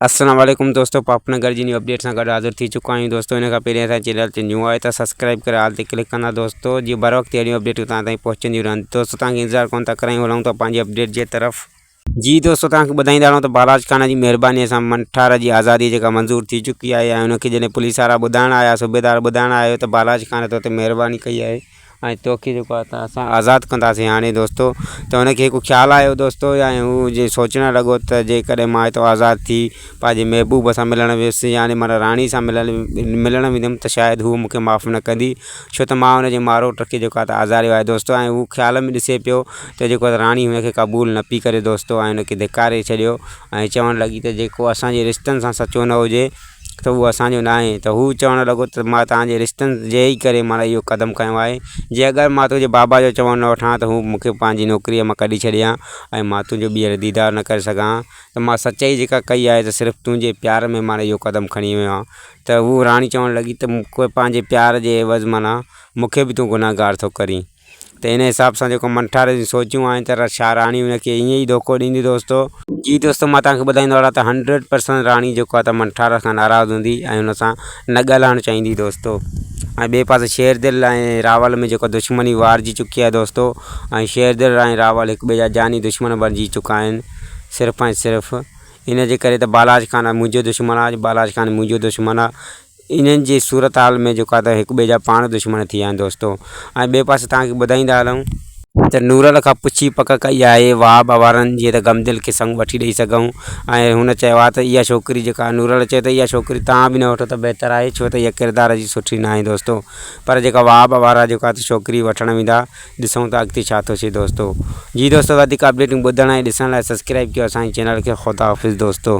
السلام عليڪم دوستو پاپ نگر جي نيو اپڊيٽ سان گڏ حاضر ٿي چڪا آهيون دوستو ان کان پهرين اسان چينل تي نيو آهي ته سبسڪرائب ڪري آل تي ڪلڪ ڪندا دوستو جيئن بر وقت اهڙيون اپڊيٽون تان تائين پهچنديون رهن دوستو تان کي انتظار ڪون ٿا ڪرايون هلون ٿا پنهنجي اپڊيٽ جي طرف جي دوستو تان کي ٻڌائيندا رهون ته بالاج خان جي مهرباني سان منٺار جي آزادي جيڪا منظور ٿي چڪي آهي ۽ ان کي جڏهن پوليس وارا ٻڌائڻ آيا صوبيدار ٻڌائڻ آيو ته بالاج خان ته اتي مهرباني ڪئي آهي ۽ توکي جيڪو آهي ته اسان آزاد ڪنداسين هاڻي دوستو ته هن کي هڪ خيال آيو دوستو يا ائين هو جي سوچڻ لڳو ته جيڪڏهن ماء هتو آزاد ٿي پنهنجي محبوب سان ملڻ ويس يعنيٰ مانا راڻي سان ملڻ ملڻ ويندم ته شايد هو مون کي معاف نه ڪندي ڇو ته ماء هن جي ماروٽ کي جيڪو آهي آزاريو آهي دوستو ۽ هو خيال ۾ ڏسي پيو ته جيڪو آهي راڻي هن کي قبول نه پئي ڪري دوستو ۽ هن کي ڌڪاري ڇڏيو ۽ چوڻ لڳي ته جيڪو اسانجي رشتن سان سچو نه هجي ته اهو اسان جو ناهي ته هو چوڻ لڳو ته ما توهان جي رشتن جي ئي ڪري مانا اهو قدم کنيو آهي جي اگر مان تنهنجي بابا جو چوڻ نه وٺان ته هو مونکي پنهنجي نوڪريء مان ڪڍي ڇڏي ها ۽ مان تنهنجو ٻيهر ديدار نه ڪري سگهان ها ته مان سچائي جيڪا ڪئي آهي ته صرف تنهنجي پيار ۾ مانا اهو قدم کڻي ويو آهيان ته هو راڻي چوڻ لڳي ته مون کي پنهنجي پيار جي عيوض مانا مونکي به تون گنهگار ٿو ڪرين ته ان حساب سان جيڪو منٺار جون سوچون آهن ته شاهه راڻي ان کي ائين ئي ڌوڪو ڏيندي دوستو. جي دوستو مان توهان کي ٻڌائيندو هلان ته هنڊريڊ پرسنٽ راڻي جيڪو آهي ته منٺار کان ناراض هوندي ۽ ان سان نه ڳالهائڻ چاهيندي دوستو ۽ ٻئي پاسي شيردل ۽ راول ۾ جيڪو دشمني وارجي چڪي آهي دوستو ۽ شيردل ۽ راول هڪ ٻئي جا جاني دشمن بڻجي چڪا آهن صرف ۽ صرف ان جي ڪري ته بالاچ خان منهنجو دشمن آهي بالاچ خان منهنجو دشمن آهي. انهن جي صورتحال ۾ جيڪو آهي ته هڪ ٻئي جا پاڻ دشمن ٿي ويا آهن دوستو ۽ ٻئي پاسي توهان کي ٻڌائيندا هلون ته نورل کان پڇي پڪ ڪئي آهي واه به وارن جيئن ته غمدل کي سڱ وٺي ڏئي سگهون ۽ هن چيو آهي ته اها ڇوڪري جيڪا نورل چيو ته اها ڇوڪري توهان به نه وٺو ته بهتر آهي ڇو ته اها ڪردار جي سٺي ناهي دوستو پر جيڪا واه به وارا جيڪو آهي ته ڇوڪري وٺڻ ويندا ڏسون ته اڳتي ڇا ٿو ٿئي دوستو جي دوستو وڌيڪ اپڊيٽون ٻڌڻ ۽ ڏسڻ لاء سبسڪرائب ڪيو اسان جي چينل کي خداحافظ دوستو.